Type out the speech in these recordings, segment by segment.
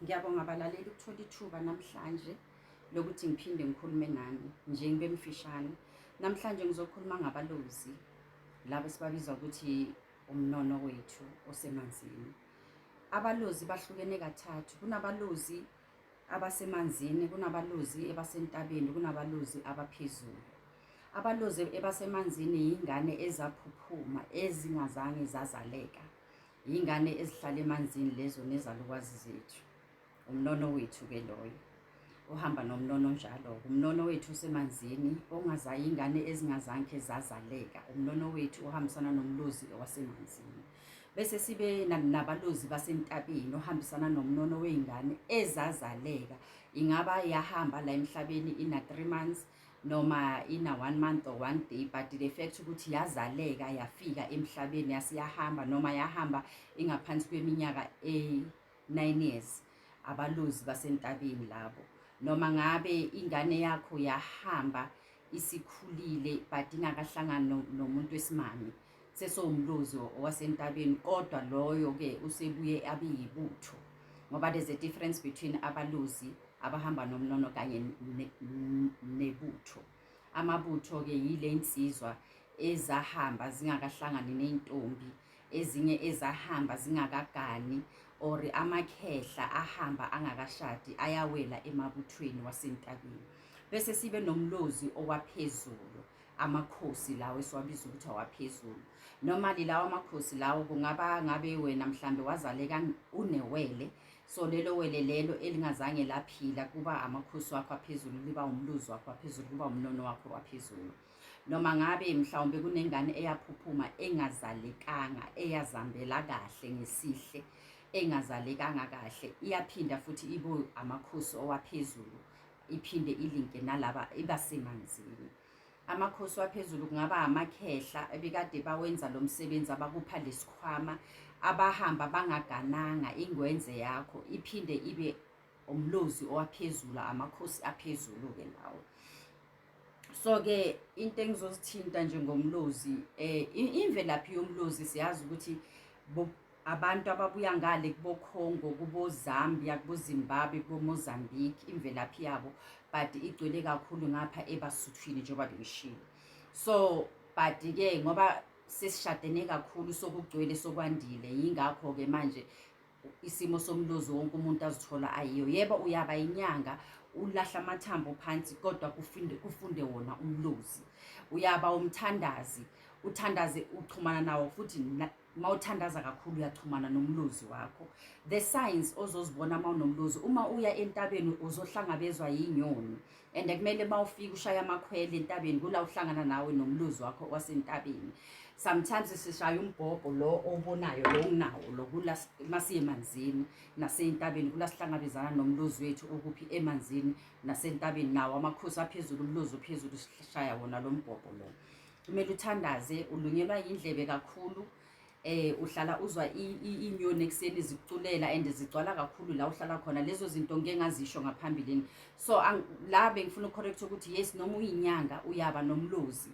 Ngiyabonga abalaleli ukuthola ithuba namhlanje lokuthi ngiphinde ngikhulume nani nje ngibe mfishane. Namhlanje ngizokhuluma ngabalozi laba esibabiza ukuthi umnono wethu osemanzini. Abalozi bahlukene kathathu. Kunabalozi abasemanzini, kunabalozi ebasentabeni, kunabalozi abaphezulu. Abalozi ebasemanzini yingane ezaphuphuma ezingazange zazaleka. Yingane ezihlala emanzini lezo nezalukwazi zethu. Umnono wethu ke loyo. Uhamba nomnono njalo. Umnono wethu usemanzini ongazayi ingane ezingazange zazaleka. Umnono wethu uhambisana nomlozi wasemanzini. Bese sibe nabalozi basentabeni ohambisana nomnono weingane ezazaleka. Ingaba yahamba la emhlabeni ina 3 months noma ina one month or one day but the fact ukuthi yazaleka yafika emhlabeni yase yahamba noma yahamba ingaphansi kweminyaka e-9 years abalozi basentabeni labo noma ngabe ingane yakho yahamba isikhulile but ingakahlangani nomuntu wesimame sesowumlozi wasentabeni kodwa loyo-ke usebuye abe yibutho ngoba there's a difference between abalozi abahamba nomnono kanye nebutho amabutho-ke yile nsizwa ezahamba zingakahlangani ney'ntombi ezinye ezahamba zingakagani or amakhehla ahamba angakashadi ayawela emabuthweni wasentabeni bese sibe nomlozi owaphezulu amakhosi lawo esiwabiza ukuthi awaphezulu normally lawo amakhosi lawo kungaba ngabe wena mhlambe wazaleka unewele so lelo wele lelo elingazange laphila kuba amakhosi wakho aphezulu liba umluzi wakho waphezulu kuba umnono wakho waphezulu noma ngabe mhlawumbe kunengane eyaphuphuma engazalekanga eyazambela kahle ngesihle engazalekanga kahle iyaphinda futhi ibo amakhosi owaphezulu iphinde ilinke nalaba ibasemanzini amakhosi waphezulu kungaba amakhehla ebekade bawenza lo msebenzi abakupha lesikhwama abahamba bangagananga ingwenze yakho iphinde ibe umlozi owaphezulu amakhosi aphezulu-ke lawo so-ke into engizozithinta njengomlozi um imvelaphi yomlozi siyazi ukuthi Abantu ababuya ngale kuboCongo, kuboZambia, kuboZimbabwe, kuboMozambique imvelaphi yabo but igcwele kakhulu ngapha ebasuthwini njengoba bengishilo. So but ke ngoba sesishadene kakhulu sokugcwele sokwandile yingakho ke manje isimo somlozi wonke umuntu azithola ayiyo. Yebo uyaba inyanga ulahla amathambo phansi kodwa kufunde kufunde wona umlozi uyaba umthandazi uthandaze uchumana nawo futhi uma uthandaza kakhulu uyachumana nomlozi wakho the signs ozozibona uma unomlozi uma uya entabeni uzohlangabezwa yinyoni and kumele uma ufika ushaya amakhwele entabeni kula uhlangana nawe nomlozi wakho wasentabeni sometimes sishaya umbhobho lo obonayo lo unawo lo kula masiye emanzini nasentabeni kula sihlangabezana nomlozi wethu okuphi emanzini nasentabeni nawo amakhosi aphezulu umlozi ophezulu sishaya wona lo mbhobho lo kumele uthandaze ulunyelwa yindlebe kakhulu eh uhlala uzwa inyoni ekuseni zikuculela and zigcwala kakhulu la uhlala khona lezo zinto ngeke ngazisho ngaphambilini so la bengifuna ucorrect ukuthi yes noma uyinyanga uyaba nomlozi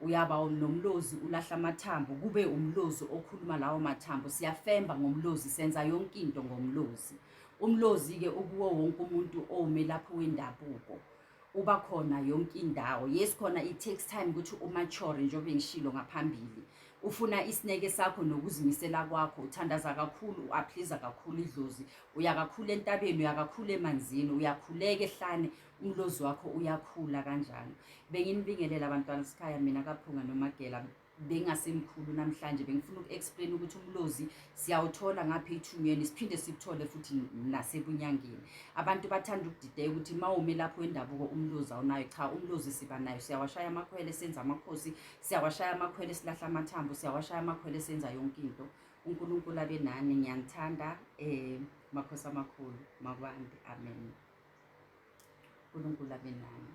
uyaba nomlozi ulahla amathambo kube umlozi okhuluma lawo mathambo siyafemba ngomlozi senza yonke into ngomlozi umlozi-ke ukuwo wonke umuntu owumelaphi wendabuko uba khona yonke indawo yes khona it takes time ukuthi umature njengoba ngishilo ngaphambili ufuna isineke sakho nokuzimisela kwakho uthandaza kakhulu uaphliza kakhulu idlozi uya kakhulu entabeni uya kakhulu emanzini uyakhuleka ehlane umlozi wakho uyakhula kanjalo benginibingelela abantwana sikhaya mina kaphunga nomagela bengasemkhulu namhlanje bengifuna uku-explain ukuthi umlozi siyawuthola ngapha ethungeni siphinde sikuthole futhi nasebunyangeni abantu bathanda ukudideka ukuthi uma ume lapho wendabuko umlozi awunayo cha umlozi siba nayo siyawashaya amakhwele senza amakhosi siyawashaya amakhwele silahla amathambo siyawashaya amakhwele senza yonke into unkulunkulu abe nani ngiyanithanda um makhosi amakhulu makwande amen unkulunkulu abe nani